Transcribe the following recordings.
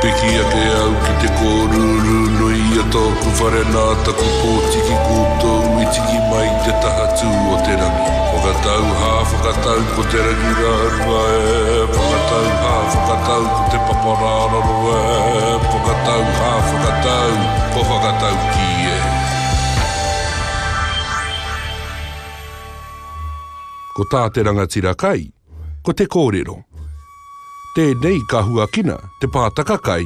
Piki ake au ki te kōrūrū nui a tōku whare nā taku pōtiki koutou i tiki mai i te taha tū o te rangi. Whakatau hā whakatau ko te rangi rāhua e, whakatau hā whakatau ko te papa rāraro e, whakatau hā whakatau, kua whakatau kī e. Ko tā te rangatira kai, Ko te kōrero, Tēnei ka huakina te pātaka kai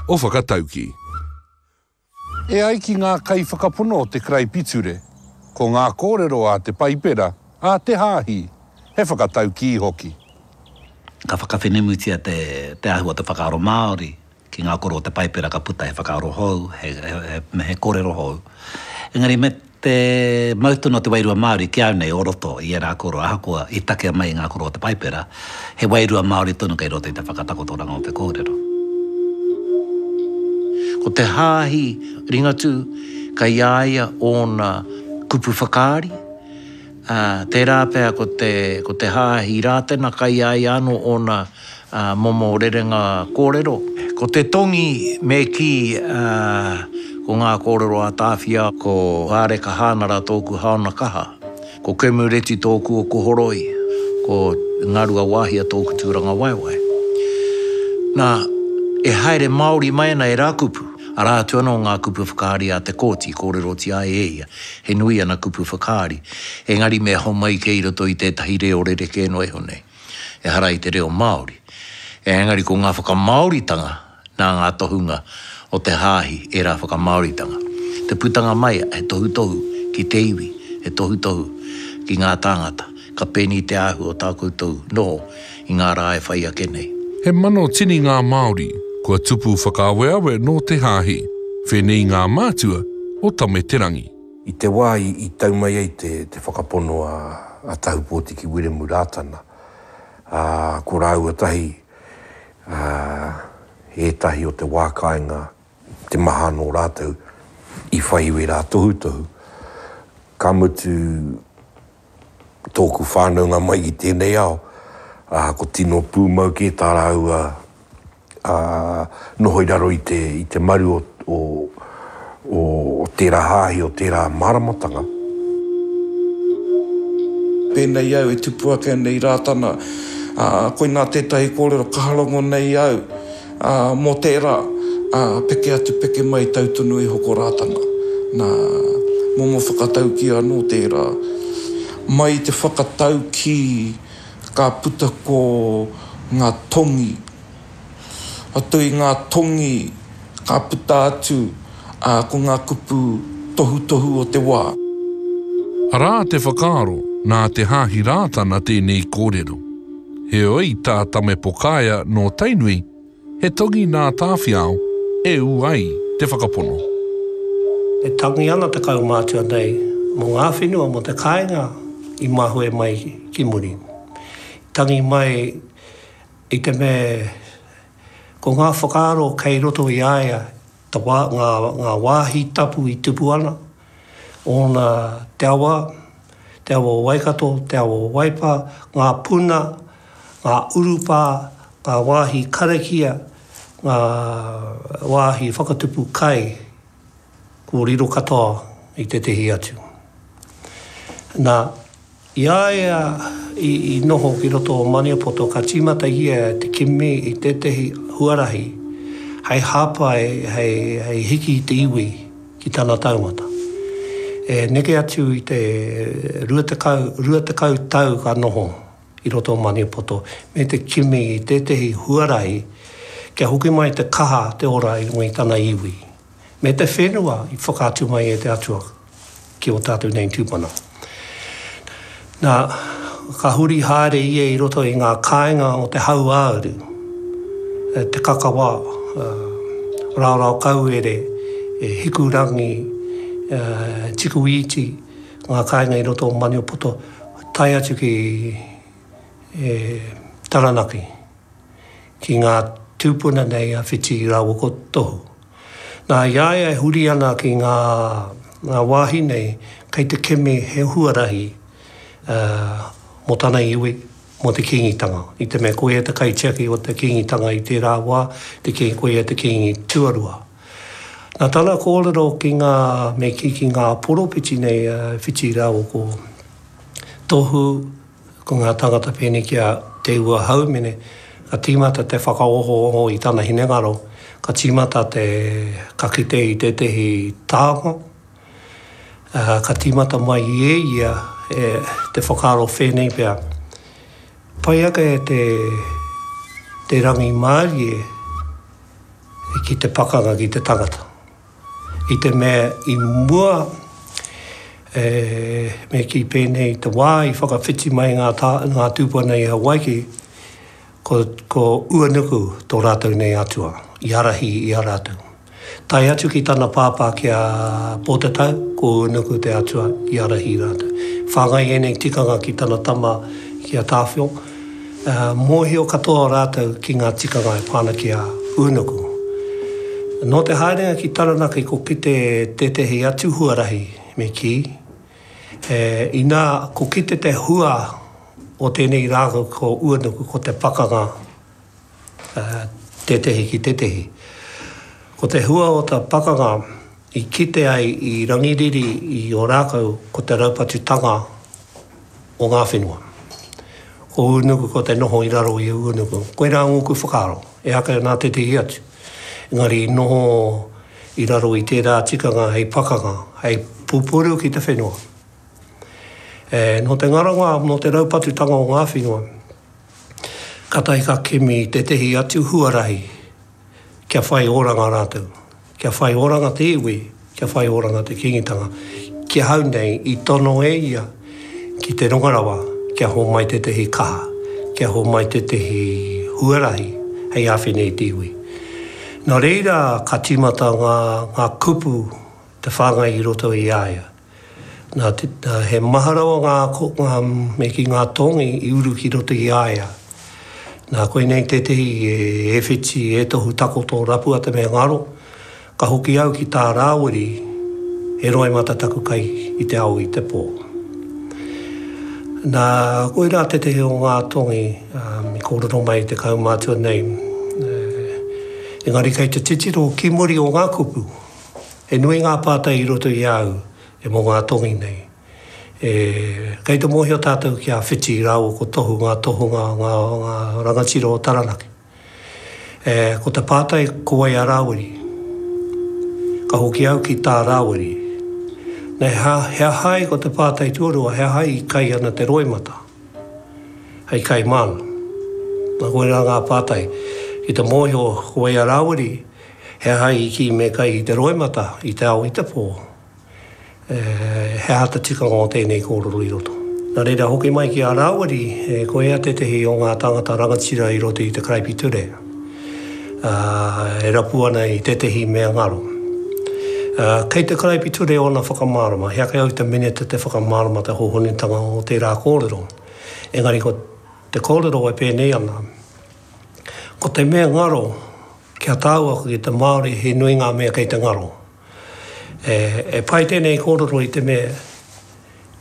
o Whakatauki. E ai ki ngā kaiwhakapono o te karaipiture, ko ngā kōrero a te Paipera, a te Hāhi, he whakataukī hoki. Ka whakawhenemutia te ahu o te whakaaro Māori ki ngā koro o te Paipera ka puta he whakaaro hou, he kōrero hou. Engari me te mau tonu o te wairua Māori ki au nei o roto i ērā koro, ahakoa i takea mai i ngā koro o te Paipera, he wairua Māori tonu kei roto i te whakatakotoranga o te kōrero. Ko te Hāhi Ringatū kei a ia ōna kupu whakaari, ā, tērā pea ko te Hāhi Rātana kei a ia anō ōna Momo rerenga kōrero. Ko te tongi me kī, ko ngā kōrero a Tāwhia. Ko Hāreka Hānara tōku haona kaha. Ko Kemureti tōku oko horoi. Ko Ngaruawāhia tōku tūrangawaewae. Nā, e haere Māori mai ana ērā kupu, arā atu anō ngā kupu whakaari a Te Kooti i kōrerotia ai e ia. He nui ana kupu whakaari, engari me homai kei roto i tētahi reo rerekē noa iho nei. ehara i te reo Māori. Engari ko ngā whakamāoritanga nā ngā tohunga o te hāhi ērā whakamāoritanga. Te putanga mai he tohutohu ki te iwi, he tohutohu ki ngā tāngata, ka pēnī te āhua o tā koutou noho i ngā rā e whai ake nei. He mano tini ngā Māori kua tupu whakaaweawe nō te hāhi, whēnei ngā mātua o Tame-te-rangi. I te wā i tau mai ai te whakapono a Tahupōti ki Wiremu Rātana, ko rāua tahi ētahi o te wā kāinga, te maha anō rātou i whai iwi rā tohutohu, ka mutu tōku whānaunga mai i tēnei ao, ā, ko tino pūmau kē tā rāua noho i raro i te, i te maru o, o, o tērā hāhi, o tērā māramatanga. Pēnei au e tupu ake ana i Rātana, ā, koinā tētahi kōrero ka harongo nei au. Ā, mō tērā, ā, peke atu, peke mai, tau tonu e hoko Rātana. Nā, momo whakataukī anō tērā. Mai i te whakataukī ka puta ko ngā tongi. Atu i ngā tongi ka puta atu. Ā, ko ngā kupu tohutohu o te wā. Arā te whakaaro, nā Te Haahi Rātana tēnei kōrero. Heoi, tā Tame Pokaea nō Tainui, he tongi nā Tāwhiao e ū ai te whakapono. E tangi ana te kaumātua nei mō ngā whenua, mō te kāinga i mahue mai ki muri. I tangi mai i te mea ko ngā whakaaro kei roto i a ia, te wā, ngā, ngā wāhi tapu i tupu ana, ōna te awa, te awa o Waikato, te awa o Waipa, ngā puna, ngā urupā, ngā wāhi karakia, ngā wāhi whakatupu kai, kōrero katoa i tētehi atu. Nā. I a ia i noho ki roto o Maniapoto ka tīmata ia te kimi i tētehi huarahi hei hāpai hei hiki i te iwi ki tana taumata. E neke atu i te 20, 20 tau ka noho i roto o Maniapoto me te kimi i tētehi huarahi kia hoki mai te kaha te ora i runga i tana iwi. me te whenua i whakaatu mai e te Atua ki ō tātou nei tūpuna. Nā, ka huri haere ia i roto i ngā kāinga o te hauāuru, e, te kakawa, e, raorao kauere, e, hikurangi, e, tikuīti, ngā kāinga i roto o Maniapoto, tae atu ki e, Taranaki. ki ngā tūpuna nei a Whiti Rawoko Tohu. Nā, i a ia e huri ana ki ngā wāhi nei, kei te kimi he huarahi mō tana iwi, mō te Kīngitanga. I te mea koia te kaitiaki o te Kīngitanga i tērā wā, koia te Kīngi tuarua. Nā tana kōrero ki ngā, me kī, ki ngā poropiti nei a Whiti Rawoko Tohu, Ko ngā tāngata pēnei ki a Te Ua Haumene, ka tīmata te whakaohooho i tana hinengaro, ka tīmata te, ka kite i tētehi tānga, ka tīmata mai i e ia e, te whakaaro whēnei pea, pai ake te, te rangimārie ki te pakanga ki te tangata. I te mea i mua, e, me kī pēnei, i te wā i whakawhiti mai ngā tā, ngā tūpuna i Hawaiki, ko, ko Uanuku tō rātou nei atua, i ārahi i a rātou. Tae atu ki tana pāpā ki a Pōtatau, ko Uanuku te atua i ārahi i rātou. Whāngai ēnei tikanga ki tana tama ki a Tāwhiao, Mōhio katoa rātou ki ngā tikanga e pā ana ki a Ūnuku. Nō te haerenga ki Taranaki ko kite tētehi atu huarahi me kī, inā ko kite te hua o tēnei rākau ko Ūnuku ko te pakanga. tētehi ki tētehi. Ko te hua o ta pakanga i kite ai i Rangiriri i Orākau ko te raupatutanga o ngā whenua. Ko Ūnuku ko te noho i raro i Ūnuku. Koirā ngōku whakaaro, ehaka nā tētehi atu. Engari i noho i raro i tērā tikanga hei pakanga, hei pupuru ki te whenua. Nō te ngara wā, nō te raupatutanga o ngā whenua, Kātahi ka kimi tētehi atu huarahi kia whai oranga rātou, kia whai oranga te iwi, kia whai oranga te Kīngitanga. Ki ahau nei, i tono e ia ki te rongo rawa kia homai tētehi kaha, kia homai tētehi huarahi hei āwhina i te iwi. Nō reira ka tīmata ngā kupu te whāngai i roto i a ia. Nā, he maha rawa ngā kōkā me ki ngā tōngi i uru ki roto i a ia. Nā, koinei tētehi e whiti, e tohu takoto rapu ata me ngaro, ka hoki au ki tā Rāwiri, he roimata taku kai i te ao i te pō. Nā, koirā tētehi o ngā tōngi i kōrero mai i te kaumātua nei, engari kei te titiro ki muri o ngā kupu, He nui ngā pātai i roto i a au e mō ngā tongi nei. E, kei te mōhio tātou ki a Whiti rāua ko Tohu ngā tohunga o ngā, o ngā rangatira o Taranaki. E, ko te pātai ko wai a Rāwiri? Ka hoki au ki tā Rāwiri. Nei ha, he aha ai ko te pātai tuarua, he aha i kai ana te roimata? Hei kai māna. Nā koirā ngā pātai. Ki te mōhio ko wai a Rāwiri? He aha i kī me kai i te roimata, i te ao, i te pō? He aha te tikanga o tēnei kōrero i roto? Nā reira, hoki mai ki a Rāwiri, ko ia tētehi o ngā tāngata rangatira i roto i te karaipiture, e rapu ana i tētehi mea ngaro. Kei te karaipiture ōna whakamārama, he ake au te minita te whakamārama te hōhonutanga o tērā kōrero, engari ko te kōrero e pēnei ana, ko te mea ngaro, Ki a tāua ko te Māori he nui ngā mea kei te ngaro. E pai tēnei kōrero i te mea,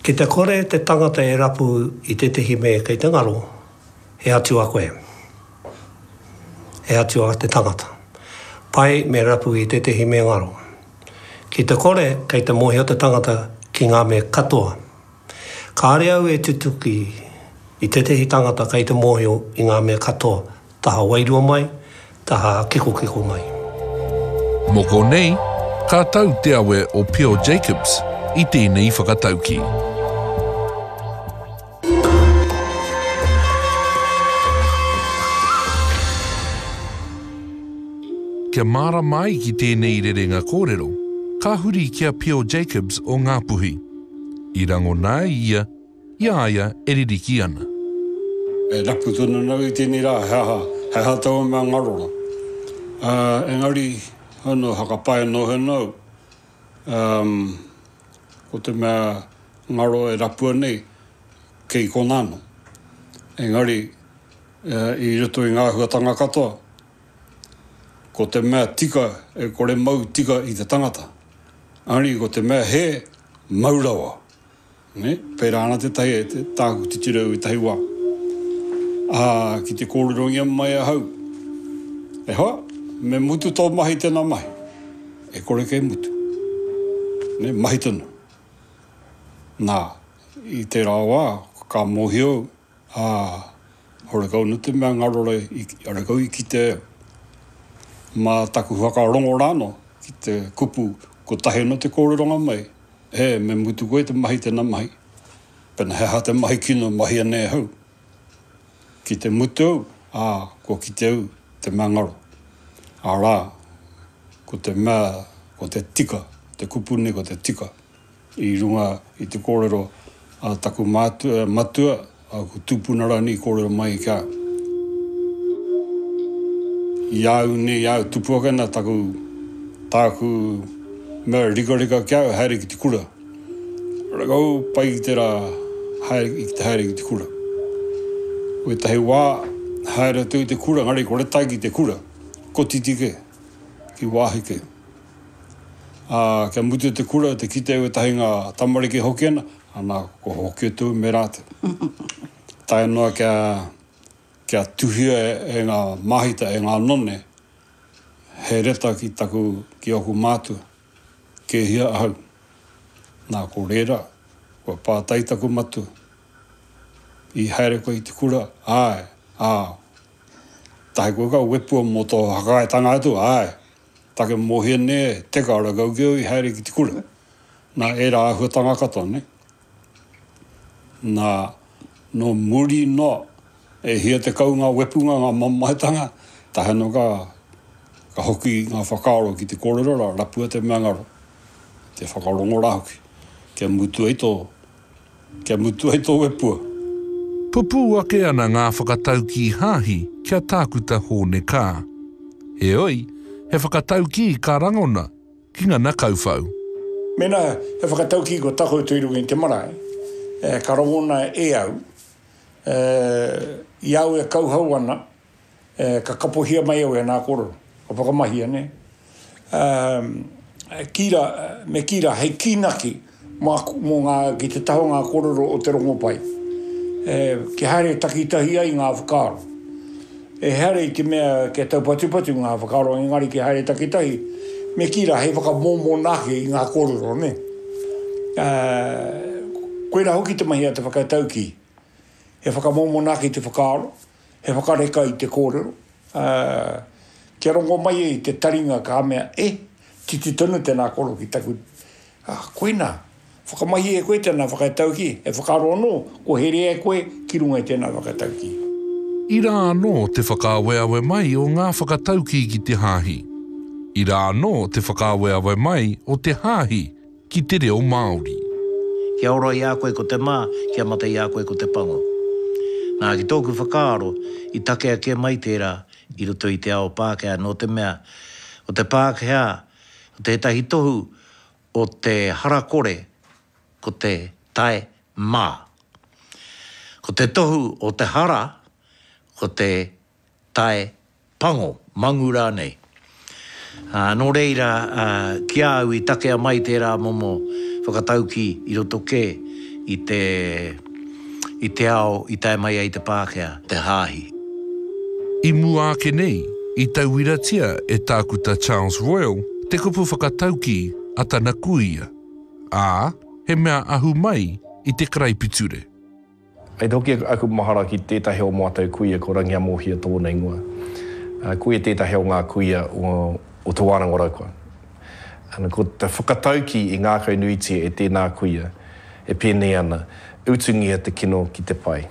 ki te kore te tangata e rapu i tētehi mea kei te ngaro, he atua koe. He atua te tangata. Pai me rapu i tētehi mea ngaro. Ki te kore kei te mōhio te tangata ki ngā mea katoa. Kāre au e tutuki i tētehi tangata kei te mōhio i ngā mea katoa, Taha wairua mai, taha kekokeko mai. Mō konei, ka tau te awe o Pio Jacobs i tēnei whakatauki. Kia mārama ai ki tēnei rerenga kōrero, ka huri ki a Pio Jacobs o Ngāpuhi. I rangona ai ia, I a ia e ririki ana. E rapu tonu ana au i tēnei rā, he aha, he aha taua mea ngarora. Ā, engari, hau nō, whakapae noa hoki ana au, umm, ko te mea ngaro e rapua nei, kei konā anō. Engari, i roto i ngā āhuatanga katoa, ko te mea tika e kore mau tika i te tangata, engari ko te mea hē, mau rawa. Nē, pērā ana tētahi e tāku titiro i tahi wā, ā, ki te kōrerongia mai ahau, e hoa, me mutu tō mahi i tēnā mahi, e kore kei mutu. Nē, mahi tonu. Nā, i tērā wā, ka mōhio au, Ā, horekau nō te mea ngaro rā i horekau i kite mā taku whakarongo rānō ki te kupu kotahi nō te kōreronga mai, ē, me mutu koe te mahi tēnā mahi. Pēnā he aha te mahi kino e mahia nei ahau? Ki te mutu au, ā, kua kite au te mea ngaro, arā, ko te mea, ko te tika, te kupu nei ko te tika. I runga i te kōrero a taku matua, aku tupuna rānei i kōrero mai kia i a au nei, i a au tupu ake nā taku, tāku mea rikarika ki a au, haere ki te kura. Rakau pai ki te rā, haere, ki te haere ki te kura. Ko ētahi wā, haere atu i te kura, engari kore tae ki te kura, kotiti kē, ki wāhi kē. Ā, kia mutu te kura, te kite wētahi ngā tamariki hoki ana, ana ko hoki tū me rātou. Tae noa kia, kia tuhia e ngā māhita, e ngā none, he reta ki taku, ki ōku mātua, kē hia ahau. Nā, ko rērā, kua pātai taku matua, I haere koe i te kura? Āe. Ā, tahi koe ka wepua mō tō whakaaetanga atu? Āe. Take Mohene, Teka ara kau keu i haere ki te kura. Na era ahuatanga katoa nei. Na no muri noa e hia te kau nga wepunga nga mamaetanga, tae ano ka ka hoki nga whakaaro ki te korero ra rapua te meangaro, te whakarongo ra hoki kia mutu ai to Kia mutu ai tō wepua. Pupū ake ana ngā whakataukī hāhi ki a Tākuta Hōne Kaa. Heoi, he whakataukī ka rangona ki ngana kauwhau. Mēnā he whakataukī kua takoto i runga i te marae, ka rangona e au, i a au e kauhau ana, e, ka kapohia mai au e nā kōrero, ka whakamahia, nē. E, kī rā, me kī rā, hei kīnaki mā, mō ngā, ki te taha o ngā kōrero o te rongopai. E, kia haere takitahi ai ngā whakaaro. E haere i te mea kia taupatupatu ngā whakaaro, engari kia haere takitahi, me kī rā, hei whakamōmona ake i ngā kōrero, nē. E, koirā hoki te mahi a te whakataukī. E whakamōmona ake te whakaaro, He whakareka i te kōrero, ā, kia rongo mai e te taringa ka mea, e, titi tonu tēnā koro ki taku, ā, koinā, whakamahi e koe tēnā whakataukī, e whakaaro anō, kua here e koe ki runga i tēnā whakataukī. Ira anō te whakaaweawe mai o ngā whakataukī ki te hāhi. Ira anō te whakaaweawe mai o te hāhi ki te reo Māori. Kia ora i a koe ko te mā, kia mate i a koe ko te pango. Nā, ki tōku whakaaro, i takea kē mai tērā i roto i te ao Pākehā, nō te mea, ko te Pākehā, ko tētahi tohu o te hara kore, ko te tae mā. Ko te tohu o te hara, ko te tae, pango, mangu rānei. Nō reira, ki a au i takea mai tērā momo whakataukī i roto kē i te, i te ao i tae mai ai te Pākehā, te hāhi. I mua ake nei, i tauiratia e Tākuta Charles Royal te kupu whakataukī a tana kuia, ā, he mea ahu mai i te karaipiture. Kei te hoki aku mahara ki tētahi o mātou kuia ko Rangiamōhia tōna ingoa. Ko ia tētahi o ngā kuia o Te Wānanga o Raukura. Ko te whakataukī i ngākau nuitia e tēnā kuia e pēnei ana, Utungia te kino ki te pai.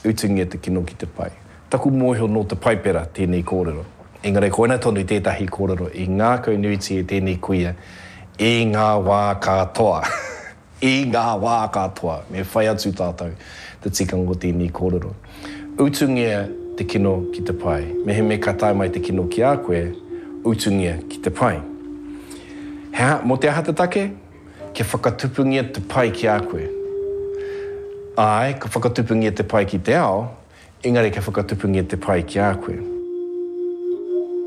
Utungia te kino ki te pai. Taku mōhio nō te Paipera tēnei kōrero. Engari koina tonu tētahi kōrero i ngākau nuitia e tēnei kuia i ngā wā katoa. I ngā wā katoa, me whai atu tātou te tikanga o tēnei kōrero. Utungia te kino ki te pai. Mehemea ka tae mai te kino ki a koe, utungia ki te pai. He aha, mō te aha te take? Kia whakatupungia te pai ki a koe. Āe, ka whakatupungia te pai ki te ao, Engari kia whakatupungia te pai ki a koe.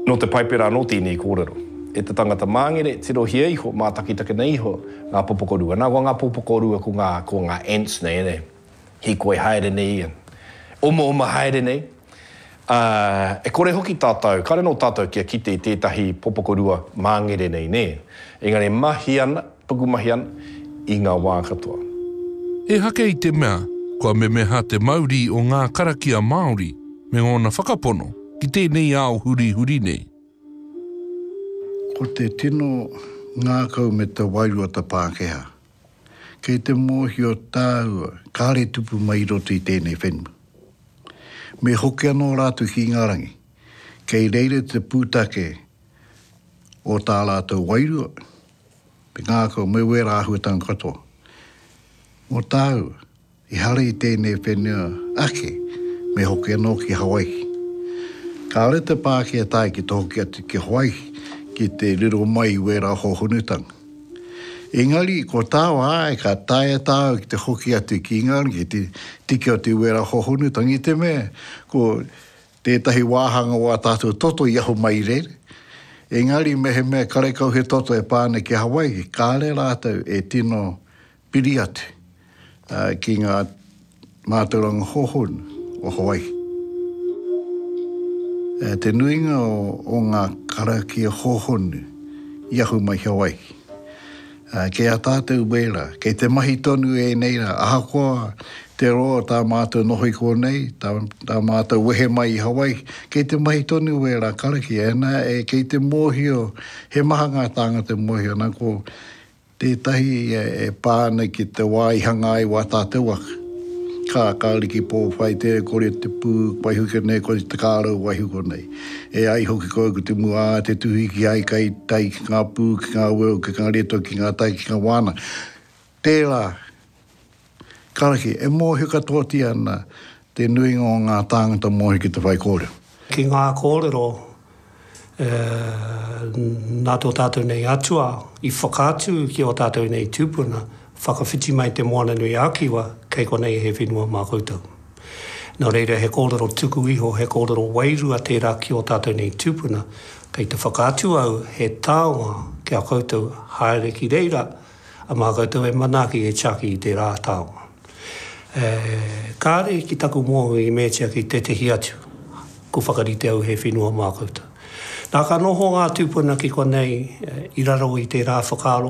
Nō te Paipera anō tēnei kōrero. E te tangata māngere, tirohia iho, mātakitakina iho ngā popoko rua. Nā, ko ngā popoko rua ko ngā, ko ngā ants nei, e nei? Hīkoi haere nei ia. Omaoma haere nei. Ā, e kore hoki tātou, kāre anō tātou kia kite i tētahi popoko rua māngere nei, nē? Engari e mahi ana, Pukumahi ana i nga wā katoa. He hake i te mea, kua memeha te mauri o ngā karakia Māori me ngōna whakapono ki tēnei ao hurihuri nei. Ko te tino ngākau me te wairua ta Pākehā. Kei te mōhio tāua kāre tupu mai i roto i tēnei whenua. Me hoki anō rātou ki ngā rangi, kei reira te pūtake o tā rātou wairua, Me ngākau, me wērā āhuatanga katoa. Mō tāu, ehara i tēnei whenua ake me hoki anō ki Hawaihi. Kāore te Pākehā tae ki te hoki atu ki Hawaihi ki te riro mai i wērā hōhonutanga. Engari, ko tāu āe ka taea tāu ki te hoki atu ki Ingarangi ki te tiki atu i wērā hōhonutanga i te mea ko Tētahi wāhanga o ā tātou toto i ahu mai i reira, engari mehemea karekau he toto e pā ana ki Hawaiki, kāre rātou e tino piri atu ki ngā mātauranga hōhonu o Hawaiki. Te nuinga o ngā karakia hōhonu i ahu mai ki Hawaiki. Ā, kei a tātou wērā, kei te mahi tonu ēnei rā, ahakoa te roa o tā mātou noho i konei, tā, tā mātou wehe mai i Hawaii, kei te mahi tonu wērā karakia, e nā, e, kei te mōhio, he maha ngā tāngata e mōhio ana ko tētahi e, e pā ana ki te wā i hanga ai wā tātou aka. Kā, kāore ki Pōwhai, tēnei kore te pū, waiho ki konei, kore te kārau, waiho konei. E ai hoki ko au ko te mua a te tuhi ki ai kai tai ki ngā pū, ki ngā weo, ki ngā reto, ki ngā tai, ki ngā wāna. Tērā, karaki, e mōhio katoatia ana te nuinga o ngā tāngata mōhio ki te whaikōrero. Ki ngā kōrero e, nā tō tātou nei atua i whakaatu ki ō tātou nei tūpuna, whakawhiti mai te Moana-nui-ā-Kiwa, kei konei he whenua mā koutou. Nō reira, he kōrero tuku iho, he kōrero wairua tērā ki ō tātou nei tūpuna. Kei te whakaatu au he taonga ki a koutou haere ki reira, a mā koutou e manaaki, e tiaki i tērā taonga. E, kāre ki taku mōhio i meatia ki tētehi atu, kua whakarite au he whenua mā koutou. Nā ka noho ngā tūpuna ki konei i raro i tērā whakaaro,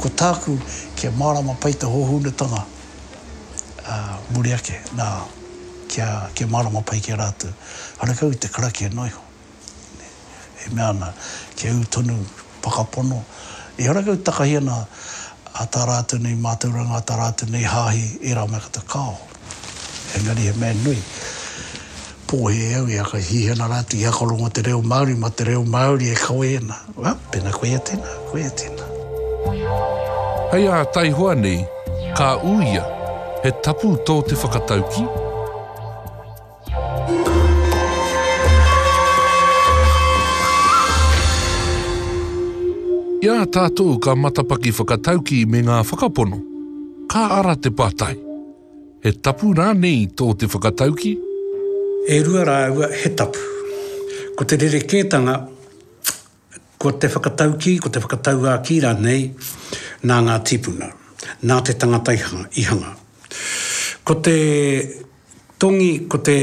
Ko tāku, kia mārama pai te hōhonutanga muri ake, nā, kia mārama pai ki a rātou. Karekau i te karakia noa iho, e mea ana, kia ū tonu whakapono, ehara kau takahi ana tā rātou nei mātauranga, tā rātou nei hāhi, ērā mea katoa, kāo. Engari he mea nui, pōhē au i a ka hihana rātou i akorongo te reo Māori mā te reo Māori e kawe ana. Ā, pēnā koia tēnā, koia tēnā. Hei ā taihoa nei, ka uia, he tapu tō te whakatauki? I a tātou ka matapaki whakataukī me ngā whakapono, ka ara te pātai, He tapu rānei tō te whakataukī? E rua rāua he tapu. Ko te rerekētanga Ko te whakataukī, ko te whakatauākī rānei nā ngā tīpuna, nā te tangata i hanga. Ko te tongi, ko te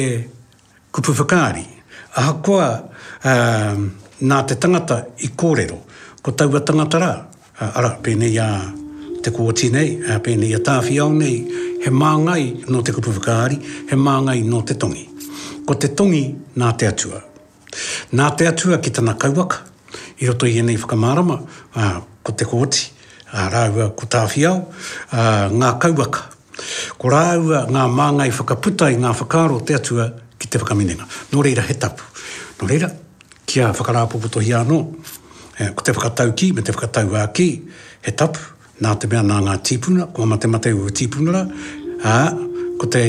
kupu whakaari, ahakoa nā te tangata i kōrero, ko taua tangata rā, arā, pēnei a Te Kooti nei, pēnei a Tāwhiao nei, he māngai nō te kupu whakaari, he māngai nō te tongi. Ko te tongi nā te Atua, Nā te Atua ki tana kauwaka, i roto i ēnei whakamārama, ā, ko Te Kooti, ā, rāua ko Tāwhiao, ā, ngā kauwaka. Ko rāua ngā māngai whakaputa i ngā whakaaro o te Atua ki te whakaminenga. Nō reira he tapu. Nō reira, kia whakarāpopotohia anō, ko te whakataukī me te whakatauākī, he tapu. Nā te mea nā ngā tīpuna, kua matemate ū tīpuna rā, ā, ko te,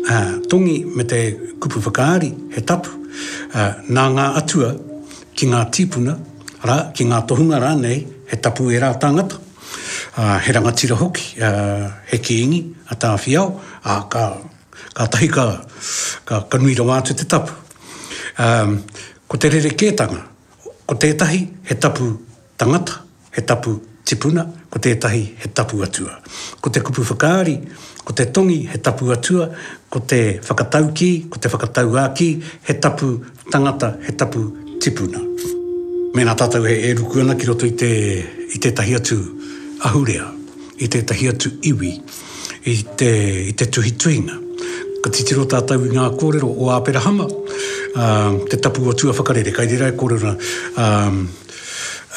ā, tongi me te kupu whakaari he tapu, ā, nā ngā atua ki ngā tīpuna rā, ki ngā tohunga rānei, he tapu ērā tāngata, ā, he rangatira hoki, ā, he kīngi a Tāwhiao, ā, ka, kātahi ka, ka, ka nui rawa atu te tapu. Ā, ko te rerekētanga, ko tētahi he tapu tangata, he tapu tipuna, ko tētahi he tapu atua. Ko te kupu whakaari, ko te tongi he tapu atua, ko te whakataukī, ko te whakatauākī, he tapu tangata, he tapu tipuna. Mēnā tātou e ruku ana ki roto i te, i tētahi atu ahurea, i tētahi atu iwi, i te, i te tuhituhinga, ka titiro tātou i ngā kōrero o Āperahama, ā, te tapu o tuawhakarere, kai reira e kōrero ana, ā,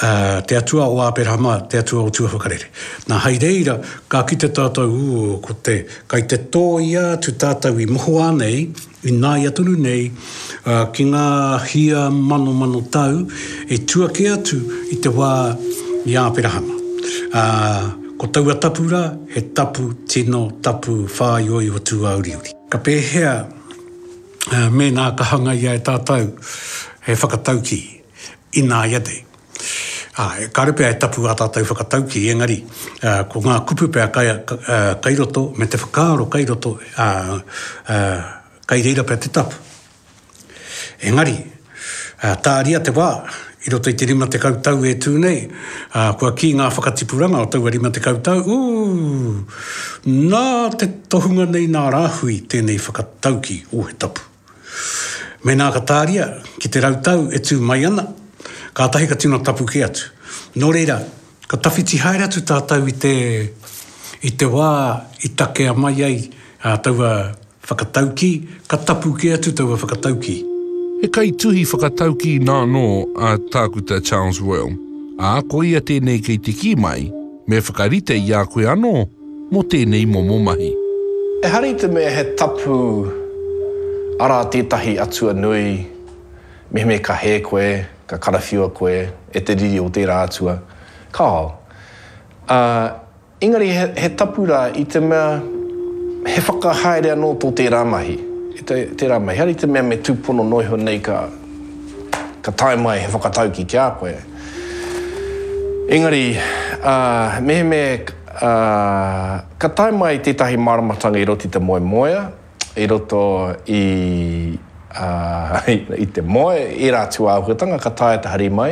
Ā, te Atua o Āperahama, te Atua o tuawhakarere. Nā, hai reira, ka kite tātou, ū, ko te, kai te tōia atu tātou i mohoā nei, ināia tonu nei, ā, ki ngā hia manomano tau i tua kē atu i te wā i Āperahama. Ā, ko taua tapu rā, he tapu tino tapu whāioio tūāuriuri. Ka pēhea mēnā ka hangaia e tātou he whakataukī? Ināianei, ā, kāore pea e tapu ā tātou whakataukī, engari, ā, ko ngā kupu pea kai, ā, kai roto, me te whakaaro kai roto, ā, ā, kai reira pea te tapu. Engari, ā, tāria te wā, i roto i te rima tekau tau e tū nei, ā, kua kī ngā whakatipuranga o taua rima tekau tau, ū, nā te tohunga nei nā rāhui tēnei whakataukī, ō he tapu. Mēnā ka tāria ki te rau tau e tū mai ana, kātahi ka tino tapu kē atu. Nō reira, ka tawhiti haere atu tātou i te, i te wā i takea mai ai taua whakataukī, ka tapu kē atu taua whakataukī. He kaituhi whakataukī nānō a Tākuta Charles Royal, ā, ko ia tēnei kei te kī mai, Me whakarite i a koe anō mō tēnei momo mahi. Ehara i te mea he tapu, arā tētahi atua nui, mehemea ka hē koe, ka karawhiua koe e te riri o tērā atua, kāo. Ā, engari he, he tapu rā i te mea he whakahaere anō tō tērā mahi, i te, tērā mahi. Ehara i te mea me tūpono noa iho nei ka, ka tae mai he whakataukī ki a koe. Engari, ā, mehemea e, ā, ka tae mai tētahi māramatanga i roto i te moemoea, i roto i, ā, i te moe, ērā atu āhuatanga ka taea te hari mai,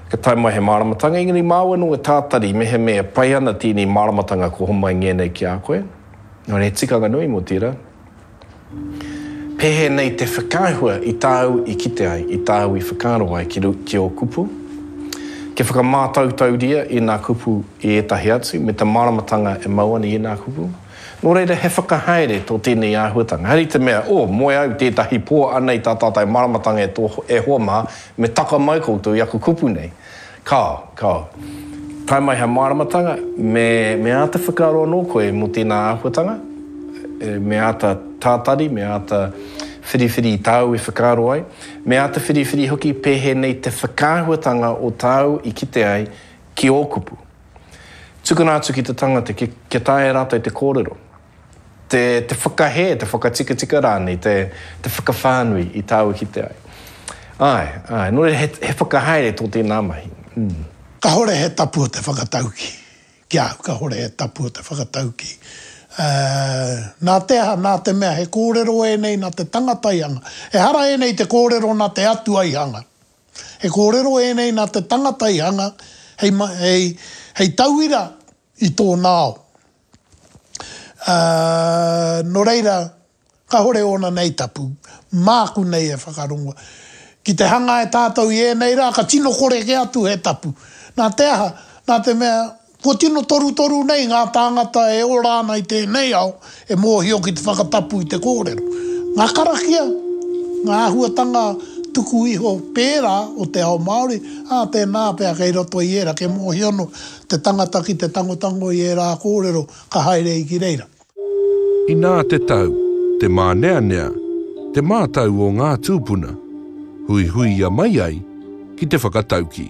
ka tae mai he māramatanga, engari māu anō e tātari mehemea e pai ana tēnei māramatanga ka homai ngēnei ki a koe. Engari he tikanga nui mō tērā. Pēnei te whakaahua i tāu i kite ai, i tāu i whakaaro ai ki ō kupu. Kia whakamātautauria ēnā kupu i ētahi atu, me te māramatanga e mau ana i ēnā kupu. Nō reira, he whakahaere tō tēnei āhuatanga. Hari te mea, o, moe au tētahi pō, anei tā tātou māramatanga e hoa mā, me taka mai koutou i aku kupu nei. Kāo, kāo. Tae mai hei māramatanga, me, me āta whakaaro anō koe mō tēnā āhuatanga, me āta tātari, me āta whiriwhiri i tāu e whakaaro ai, me āta whiriwhiri hoki pēhēnei te whakaahuatanga o tāu i kite ai ki ō kupu. Tukuna atu ki te tangata kia taea e rātou te kōrero. te whakahē, te whakatikatika rānei, te, te whakawhānui i tāua kite ai. Āe, āe, nō reira he, he whakahaere tō tēnā mahi. Mm. Kahore he tapu o te whakatauki. Ki a au, kahore he tapu o te whakatauki. Uh, nā te aha, nā te mea he kōrero ēnei nā te tangata i hanga. Ehara ēnei te kōrero nā te atua i hanga. He kōrero ēnei nā te tangata i hanga hei, hei, hei tauira i tōna ao. Ā, nō reira, kāhore ōna nei tapu, māku nei e whakarongo. Ki te hanga e tātou i ēnei rā, ka tino kore kē atu he tapu. Nā te aha? Nā te mea, kua tino torutoru nei ngā tāngata e ora ana i tēnei ao, e mōhio ki te whakatapu i te kōrero. Ngā karakia, ngā āhuatanga tuku iho pērā o te ao Māori, ā, tēnā pea kei roto i ērā, kei mōhio noa, Te tangata ki te tangotango i ērā kōrero ka haere i ki reira. Inā te tau, te māneanea, te mātau o ngā tūpuna, huihuia mai ai ki te whakataukī.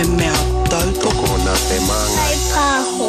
He mea tautoko nā te māngai. Hei pāho.